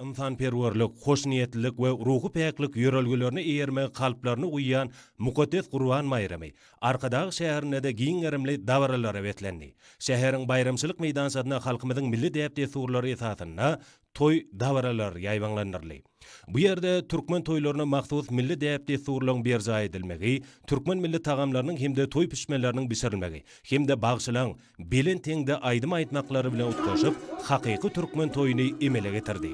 ynsanperwerlik, hoşniýetlilik we ruhy päklik ýörelgelerine eýermegi kalplaryna guýýan mukaddes Gurban baýramy Arkadag şäherinde-de giň gerimli dabaralara beslendi. Şäheriň baýramçylyk meýdançasynda halkymyzyň milli däp-dessurlary esasynda toý dabaralary ýaýbaňlandyryldy. Bu ýerde türkmen toýlaryna mahsus milli däp-dessurlaryň berjaý edilmegi, türkmen milli tagamlarynyň hem-de toý pişmeleriniň bişirilmegi hem-de bagşylaryň, Belent heňde aýdym aýtmaklary bilen utgaşyp, hakyky türkmen toýuny emele getirdi.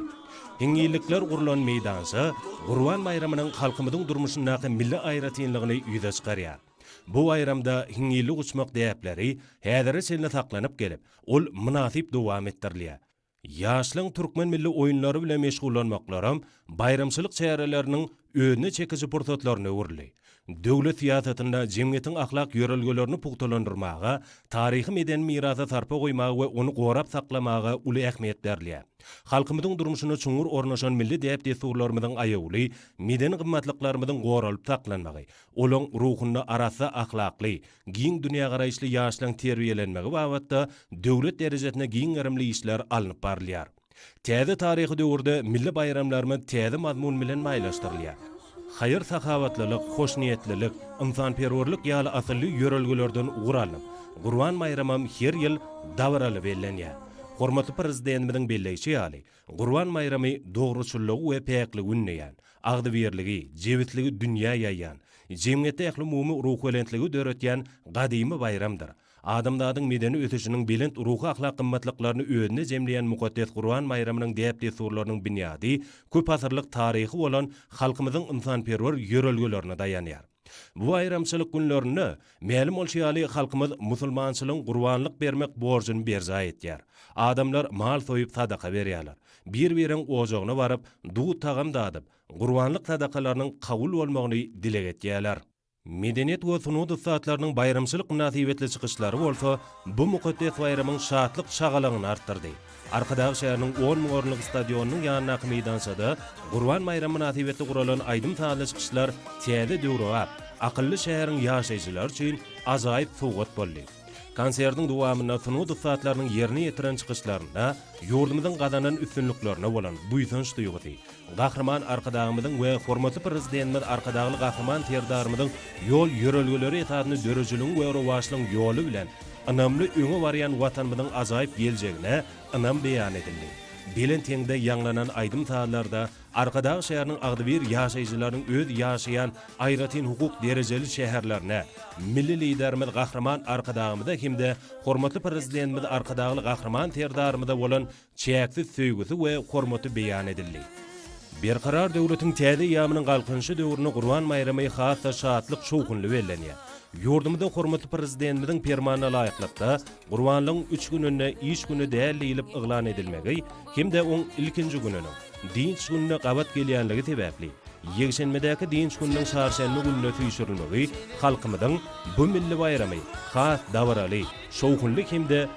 Hiňňillikler gurlan meýdança Gurban baýramynyň halkymyzyň durmuşyndaky milli aýratynlygyny ýüze çykarýar. Bu baýramda hiňňillik uçmak däpleri häzire çenli saklanyp gelip, ol mynasyp dowam etdirilýär. Ýaşlaň türkmen milli oýunlary bilen meşgullanmaklaram baýramçylyk çäreleriniň özüne çekiji pursatlaryna öwrüldi. Döwlet syýasatynda jemgyýetiň ahlak ýörelgelerini pugtalandyrmaga, taryhy-medeni mirasa sarpa goýmaga we ony gorap saklamaga uly ähmiýet berilýär. Halkymyzyň durmuşyna çuňňur ornaşan milli däp-dessurlarymyzyň aýawly, medeni gymmatlyklarymyzyň goralyp saklanmagy, olaň ruhunda arassa ahlakly, giň dünýägaraýyşly ýaşlaryň terbiýelenmegi babatda döwlet derejesinde giň gerimli işler alnyp barylýar. Täze taryhy döwürde milli baýramlarymyz täze mazmun bilen maýlaşdyrylýar. Haýyr-sahawatlylyk, hoşniýetlilik, ynsanperwerlik ýaly asylly ýörelgelerden ugur alnyp, Gurban baýramam her ýyl dabaraly bellenýär. Hormatly Prezidentimiziň belleýşi ýaly, Gurban baýramy dogruçyllygy we päkligi ündeýän, agzybirligi, jebisligi dünýä ýaýýan, jemgyýetde ählumumy ruhbelentligi döretýän gadymy baýramdyr. Adamzadyň medeni ösüşiniň belent ruhy-ahlak gymmatlyklaryny özünde jemleýän mukaddes Gurban baýramynyň däp-dessurlarynyň binýady köp asyrlyk taryhy bolan halkymyzyň ynsanperwer ýörelgelerine daýanýar. Bu baýramçylyk günlerinde, mälim bolşy ýaly, halkymyz musulmançylygyň gurbanlyk bermek borjuny berjaý etýär. Adamlar mal soýup sadaka berýärler. Bir-biriň ojagyna baryp, dud-tagam dadyp, gurbanlyk sadakalarynyň kabul bolmagyny dileg etýärler. Medeniýet we sungat ussatlarynyň baýramçylyk mynasybetli çykyşlary bolsa bu mukaddes baýramyň şatlyk-şagalaňyny artdyrdy. Arkadag şäheriniň on müň orunlyk stadionynyň ýanyndaky meýdançada Gurban baýramy mynasybetli guralan aýdym-sazly çykyşlar täze döwrebap, akylly şäheriň ýaşaýjylary üçin ajaýyp sowgat boldy. Konsertiň dowamynda sungat ussatlarynyň ýerine ýetiren çykyşlarynda ýurdumyzyň gazanan üstünliklerine bolan buýsanç duýgusy, Gahryman Arkadagymyzyň we hormatly Prezidentimiz Arkadagly Gahryman Serdarymyzyň ýol ýörelgeleri esasynda döredijiligiň we rowaçlygyň ýoly bilen ynamly öňe barýan Watanymyzyň ajaýyp geljegine ynam beýan edildi. Belent heňde ýaňlanan aýdym-sazlarda Arkadag şäheriniň agzybir ýaşaýjylarynyň öz ýaşaýan aýratyn hukuk derejeli şäherlerine, Milli Liderimiz Gahryman Arkadagymyza hem-de hormatly Prezidentimiz Arkadagly Gahryman Serdarymyza bolan çäksiz söýgüsi we hormaty beýan edildi. Berkarar döwletiň täze eýýamynyň Galkynyşy döwründe Gurban baýramy has-da şatlyk-şowhunly bellenýär. Ýurdumyzda hormatly Prezidentimiziň Permanyna laýyklykda, Gurbanlygyň üç gününde iş güni däl diýlip yglan edilmegi hem-de oň ilkinji gününiň, dynç gününe gabat gelýänligi sebäpli, ýekşenbedäki dynç gününiň çarşenbe gününe süýşürilmegi halkymyzyň bu milli baýramy has dabaraly, şowhunly hem-de